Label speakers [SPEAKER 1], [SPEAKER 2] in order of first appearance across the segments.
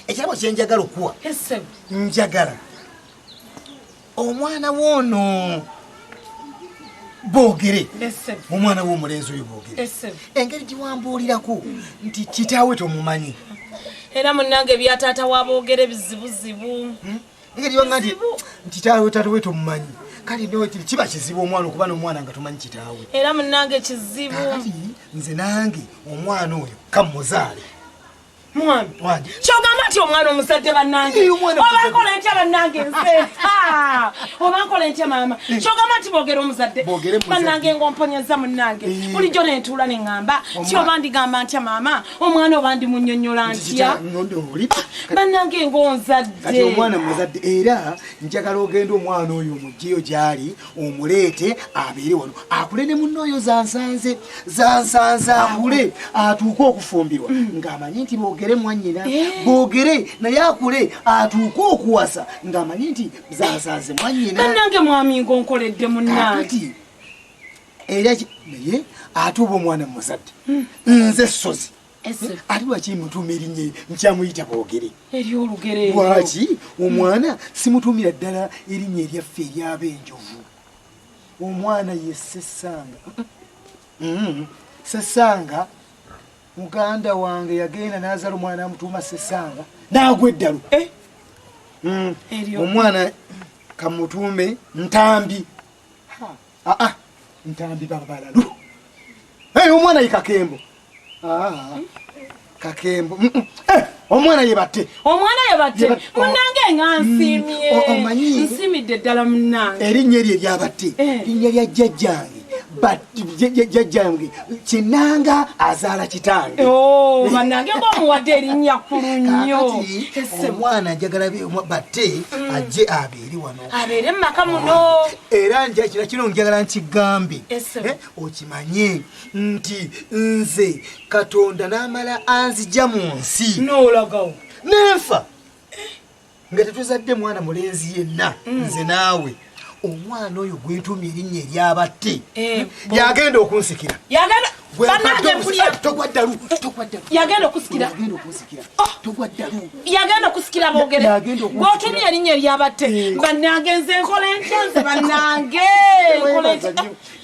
[SPEAKER 1] ekirabo kyenjagala okuwa
[SPEAKER 2] njagala
[SPEAKER 1] omwana woono boogere omwana womulenzi oyo boogere engeri giwambuulirako nti kitaawe tomumanyi era
[SPEAKER 2] munange byataata waboogere bizibuzibu hmm? engeri yonga
[SPEAKER 1] nti kitaawe taata we tomumanyi kale nokiri kiba kizibu omwana okuba nomwana nga tomanyi kitaawe era munange
[SPEAKER 2] kizibu nze
[SPEAKER 1] nange omwana oyo kamuzaale
[SPEAKER 2] kyogamba nti omwana omuzadde banange obankola ntya banange nze obankola ntya maama eh. kyogamba nti bogera omuzadde banange ngaomponyeza munange eh. bulijjo nentuula neŋamba ti oba ndigamba ntya maama omwana oba ndi munyonyola ntya banange ngaonzadde
[SPEAKER 1] era njagala ogenda omwana oyo mugyeyo gyali omuleete abeere wano akule ne munna oyo zansanze zansanze akule atuuke okufumbirwa mm. ng'amanyi nti boogere mwannyina eh. boogere naye akule atuuke okuwasa ng'amanyi nti zansanze mwannyina nange mwaminga
[SPEAKER 2] onkoledde munnange
[SPEAKER 1] era naye ate oba omwana muzadde mm. nze ssozi ati lwaki mutuuma erinnya nkyamuyita boogere eryolugere
[SPEAKER 2] lwaki
[SPEAKER 1] omwana simutuumira ddala erinnya eryaffe eryaba enjovu omwana ye sesanga mm-hmm. sesanga muganda wange yagenda nazala omwana amutuuma sesanga naagwa eddalu eh? mm. omwana kamutuume ntambi aa ah, ah, ntambi babalalu hey, omwana ye kakembo aa ah, kakembo mm, mm. hey, eh, omwana ye bate omwana ye bate munange
[SPEAKER 2] nga mm, nsimye omanyi nsimidde ddala munange erinnya eryo eryabate
[SPEAKER 1] eh. linnya lya jjajjange jajjange kinanga azaala kitange oh, banange
[SPEAKER 2] ngaomuwadde erinnya kulu nnyo omwana
[SPEAKER 1] njagala batte mm. ajje abe eri wano abeere mu maka muno
[SPEAKER 2] era njakira
[SPEAKER 1] kino njagala nkigambe eh, okimanye nti nze katonda n'amala anzija mu nsi n'olagawo
[SPEAKER 2] nenfa
[SPEAKER 1] nga tetuzadde mwana mulenzi yenna mm. nze naawe omwana oyo gwentumya erinnya eryabatte eh, yagenda okunsikira
[SPEAKER 2] yagenda okusikira yagenda okusikira bogere gwotumye erinnya eryabatte eh. banagenze enkola entenze banange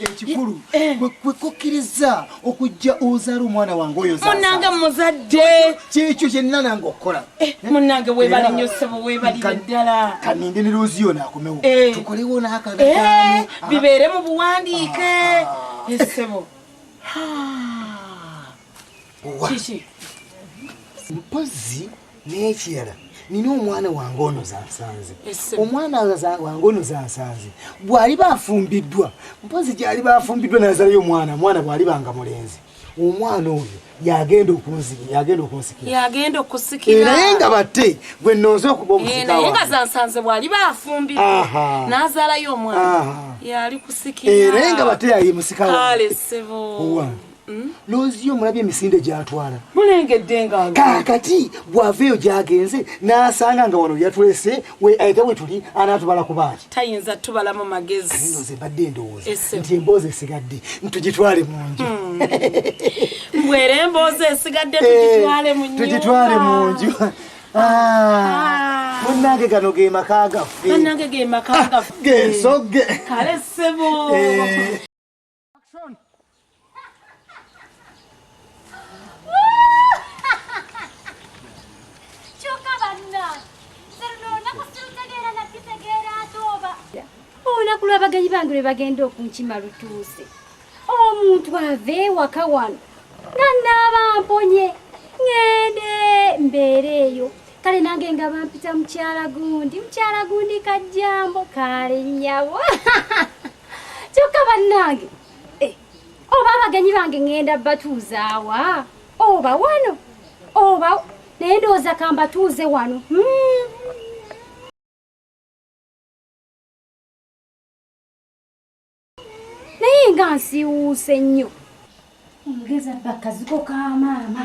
[SPEAKER 1] ekikulu eh. eh. kwekukkiriza okujja ozaala omwana wange oyo munange muzadde
[SPEAKER 2] kyekyo kyenina
[SPEAKER 1] nange okukola munange webale
[SPEAKER 2] nnyo ssebo webalire ddala kaninde ne looziyo
[SPEAKER 1] naakomewo tukolewo naakagataano bibeere mu
[SPEAKER 2] buwandiike ah. esebo kiki
[SPEAKER 1] mpozi n'ekirala nina omwana wange ono zansanze omwana wange ono zansanze bw'aliba afumbiddwa mpozi gy'aliba afumbiddwa nazalayo omwana omwana bw'aliba nga mulenzi omwana oyo yagenda okunzikira yagenda okunsikira yagenda okusikira naye nga batte gwe nonze okuba omusika eh, naye nga zansanze bwali
[SPEAKER 2] bafumbira n'azaalayo omwana yali kusikira eh, naye nga batte yaye
[SPEAKER 1] musika kale sebo
[SPEAKER 2] hmm? loziyo
[SPEAKER 1] mulabye emisinde gyatwala mulengedde nga
[SPEAKER 2] kakati bwava
[SPEAKER 1] eyo gyagenze n'asanga nga wano yatulese ate wetuli anatubala kubaaki tayinza tubalamu
[SPEAKER 2] magezi badde endowooza
[SPEAKER 1] nti emboozi esigadde ntugitwale munju hmm.
[SPEAKER 2] mbwera emboozi esigadde eh, tugitwale munju ah. ah.
[SPEAKER 1] munange gano gemaka gaffe ah, gensogge kale sebo
[SPEAKER 2] eh.
[SPEAKER 3] olunaku lw'abagenyi bange lwe bagenda okunkima lutuuse omuntu ava ewaka wano nga naaba mponye ŋende mbeera eyo kale nange nga bampita mukyala gundi mukyala gundi kajjambo kaale nnyabo kyokka bannange eh, oba abagenyi bange ŋŋenda batuuzaawa oba wano oba naye ndowooza kambatuuze wano hmm. naye nga nsiwuuse nnyo omugeza bakaziko ka maama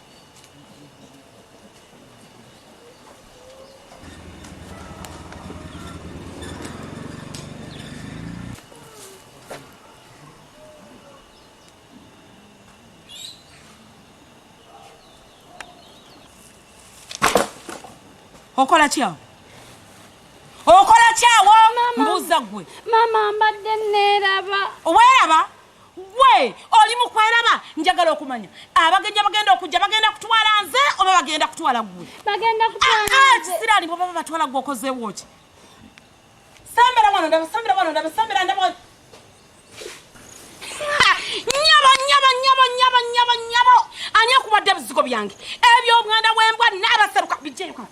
[SPEAKER 2] okola kyawo okola kyawo mbuuza gwe mama mbadde
[SPEAKER 3] neeraba weeraba
[SPEAKER 2] Gwe oli mu kweraba? Njagala okumanya abagenyi abagenda okujja bagenda kutwala nze oba bagenda kutwala gwe? Bagenda kutwala
[SPEAKER 3] ah, ah, nze. Kisiraani bwe baba batwala gwe
[SPEAKER 2] okozeewo ki? Sembera wano ndaba, sembera wano ndaba, sembera ndaba wano. Nyabo, nyabo, nyabo, nyabo, nyabo, nyabo. Ani akubadde ebizigo byange? Eby'obuganda bw'embwa n'abaseruka bijjeyo kano.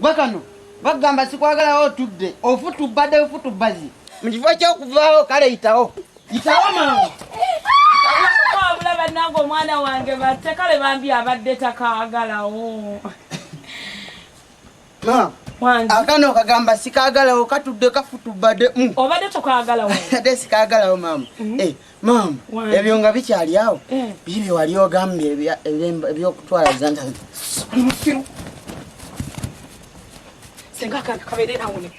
[SPEAKER 4] Gwe kano bagamba sikwagala otudde ofutubbadde bufutubbazi mu kifo ky'okuvaawo kale yitawo yitawo mangu
[SPEAKER 2] wabula bannange omwana wange batte kale bambi abadde takaagalawo
[SPEAKER 4] akano
[SPEAKER 2] kagamba
[SPEAKER 4] sikaagalawo katudde kafutubbadde mm. obadde tokaagalawo
[SPEAKER 2] ate sikaagalawo
[SPEAKER 4] maama mm. eh. Maama, ebyo nga bikyali awo eh. bibyo wali ogambye ebyokutwala zanta musiru
[SPEAKER 2] senga akantu kabeere awo ne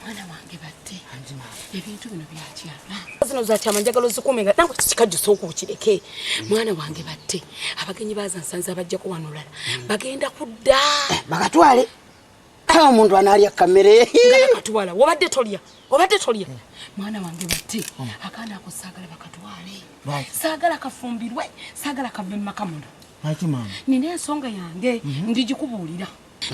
[SPEAKER 2] mwana wange batte ebintu bino byakyama zino zakyama njagala ozikuume nga nawe kikajjo sooka okireke mwana wange batte abagenyi bazansanze abajjako wano olala hmm. bagenda kudda eh, bagatwale
[SPEAKER 4] kale omuntu anaalya kamere bakatwala obadde
[SPEAKER 2] tolya obadde tolya hmm. mwana wange batte hmm. akaana ako saagala bakatwale saagala kafumbirwe saagala kave mu maka muno nina
[SPEAKER 4] ensonga yange
[SPEAKER 2] mhm. ndigikubuulira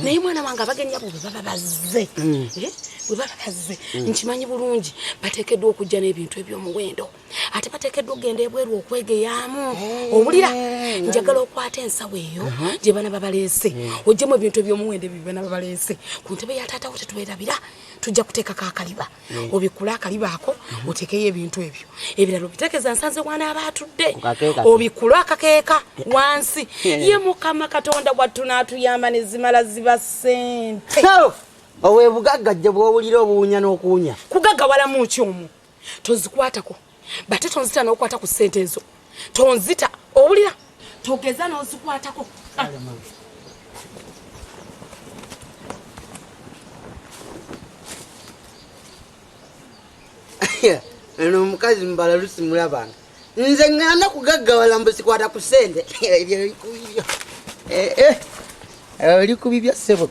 [SPEAKER 2] naye mwana wange abagenyi abo bwe baba bazze mm. eh, bwe baba bazze mm. nkimanyi bulungi bateekeddwa okujja n'ebintu eby'omuwendo ate bateekeddwa okugenda ebweru okwegeyaamu eh. owulira njagala okwata ensawo eyo uh-huh. gye bana babaleese mm. ojjemu ebintu eby'omuwendo ebyo bana babaleese ku ntebe ya taatawo tetuberabira tujja kuteekako akaliba obikule akaliba ako mhm. oteekeyo ebintu ebyo ebirala obiteekeza nsanze wanaaba atudde obikule akakeeka wansi ye mukama katonda wattu n'atuyamba ne zimala ziba ssente
[SPEAKER 4] owebugagga jje bwowulira obuwunya n'okuwunya kugagawalamu ki
[SPEAKER 2] omu tozikwatako bate tonzita nokwata ku sente ezo tonzita owulira togeza nozikwatako
[SPEAKER 4] ah. eno omukazi mbala lusimula bantu nze ngana kugaggawala mbu sikwata ku sente ebyo bikubibyo eh, eh. oli kubibya ssebo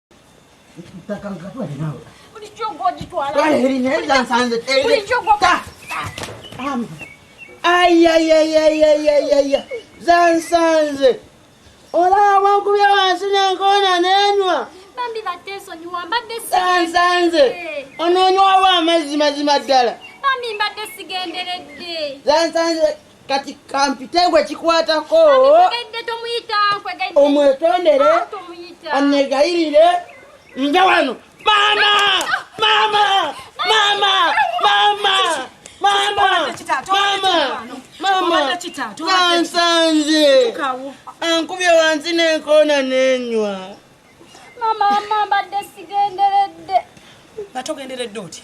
[SPEAKER 4] zansanze olaba nkubya wansi nenkoona nenwa
[SPEAKER 3] zansanze
[SPEAKER 4] ononywawo amazzi mazima ddala
[SPEAKER 3] zansanze
[SPEAKER 4] kati kampite gwe kikwatako
[SPEAKER 3] omwetondere
[SPEAKER 4] ah,
[SPEAKER 3] anegayirire
[SPEAKER 4] nja wano mama mama mama mama kansanze ankubye wansi nenkoona nenywa mama
[SPEAKER 3] mama mbadde sigenderedde nga
[SPEAKER 2] togenderedde otya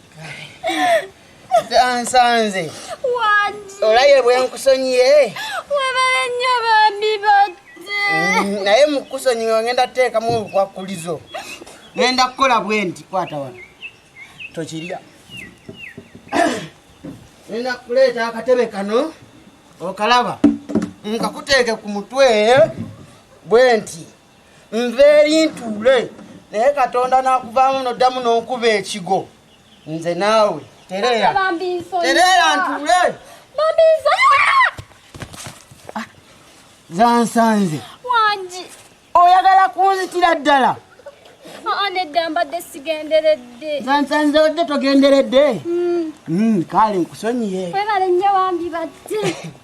[SPEAKER 3] nsanze olaye
[SPEAKER 4] bwenkusonyiye webale
[SPEAKER 3] nnyo
[SPEAKER 4] bambi
[SPEAKER 3] batte mm,
[SPEAKER 4] naye mukusonyiwe ngenda teekamu obukwakulizo ngenda kukola bwe nti kwata wano tokirya ngenda kuleeta akatebe kano okalaba nkakuteeke ku mutwe bwe nti nveeri ntuule naye katonda n'akuvaamu noddamu n'onkuba ekigo nze naawe tereera tereera ntuule ah, zansanze wangi
[SPEAKER 3] oyagala
[SPEAKER 4] kunzitira ddala nedda
[SPEAKER 3] mbadde sigenderedde zansanze odde
[SPEAKER 4] togenderedde hmm. Hmm, kale nkusonyiye webale nnyo wambi
[SPEAKER 3] badde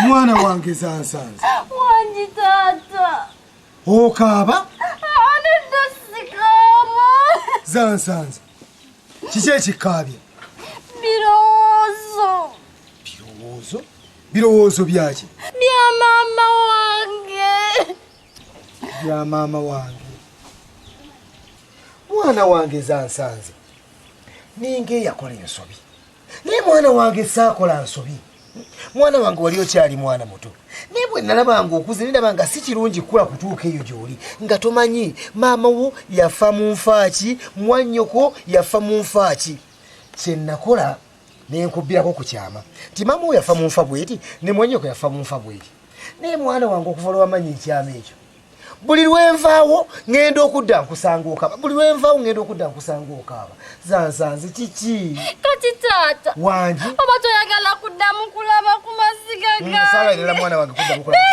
[SPEAKER 1] mwana wange zansanze wangi
[SPEAKER 3] taata okaaba
[SPEAKER 1] anedda
[SPEAKER 3] sikaaba zansanze
[SPEAKER 1] kiki ekikaabya birowoozo
[SPEAKER 3] birowoozo
[SPEAKER 1] birowoozo byaki bya maama
[SPEAKER 3] wange
[SPEAKER 1] bya maama wange mwana wange zansanze ninga eyakola ensobi naye mwana wange saakola nsobi mwana wange wali okyali mwana muto naye bwe nalaba nga okuze niraba nga si kirungi kukula kutuuka eyo gy'oli nga tomanyi maama wo yafa mu nfaaki mwannyoko yafa mu nfaaki kye nakola nenkubbirako ku kyama nti maama wo yafa mu nfa bweti ne mwannyoko yafa mu nfa bweti naye mwana wange okuva lwamanyi ekyama ekyo buli lwenvaawo ŋŋenda okudda nkusanga okaaba buli lwenvaawo ŋŋenda okudda nkusanga okaaba zansanze kiki kati taata
[SPEAKER 3] wangi oba
[SPEAKER 1] toyagala
[SPEAKER 3] kuddamu kulaba ku maziga mm, gasaalaerera mwana wange kuddamu kulaba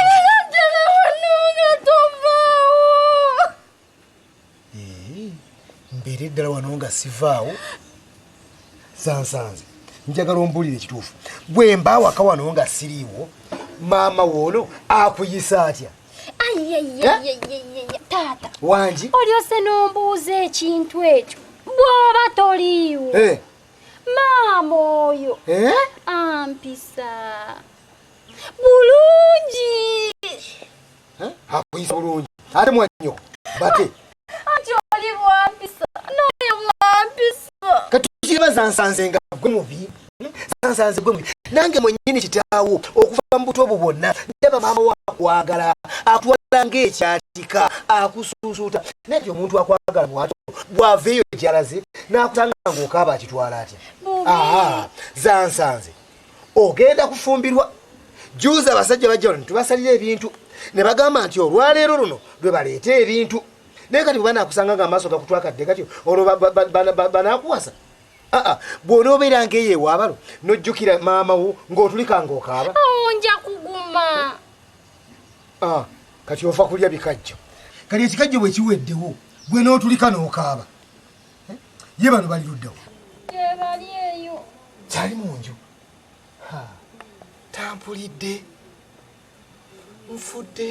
[SPEAKER 1] mbeere ddala wano nga sivaawo zansanze njagala ombulire ekituufu gwe mbaawaka wano nga siriiwo maama woono akuyisa atya
[SPEAKER 3] taata wangi olyose
[SPEAKER 1] n'ombuuza
[SPEAKER 3] ekintu ekyo bw'oba toliiwo eh. maama oyo eh? ampisa bulungi
[SPEAKER 1] akuyisa bulungi ate mwannyo bate anti oli
[SPEAKER 3] wampisa noyo mwampisa kati kiraba
[SPEAKER 1] zansanze nga gwe mubi zansanze gwe mubi nange mwennyini kitaawo okuva mu buto obwo bwonna ndaba maama wakwagala akutwala ngaekyatika akusuusuuta naye ti omuntu akwagala mwato gwava eyo gyalaze n'akutanga ngaokaaba akitwala atya aha zansanze ogenda kufumbirwa juuzi abasajja bajja wano tubasalira ebintu ne bagamba nti olwaleero luno lwe baleeta ebintu naye kati bwebanakusanga nga amaaso gakutwakadde katyo olwo banakuwasa aa bwonoobeera ngaeyo ewaabalo nojjukira maama wo ng'otulika ngaokaaba oh, nja kuguma
[SPEAKER 3] ah,
[SPEAKER 1] kati ofa kulya bikajjo kati ekikajjo bwe kiweddewo gwe n'otulika n'okaaba ye bano bali luddawo gyebali
[SPEAKER 3] eyo kyali mu nju
[SPEAKER 1] tampulidde nfudde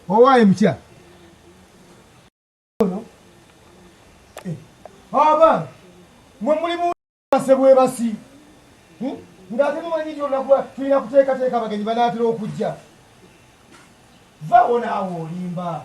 [SPEAKER 1] owaaye mutya eh, aba mwe mulimu base bwebasi hmm? ng'ate mumanyi nti olunaku tulina kuteekateeka abagenyi banaatera okujja vawo naawe olimba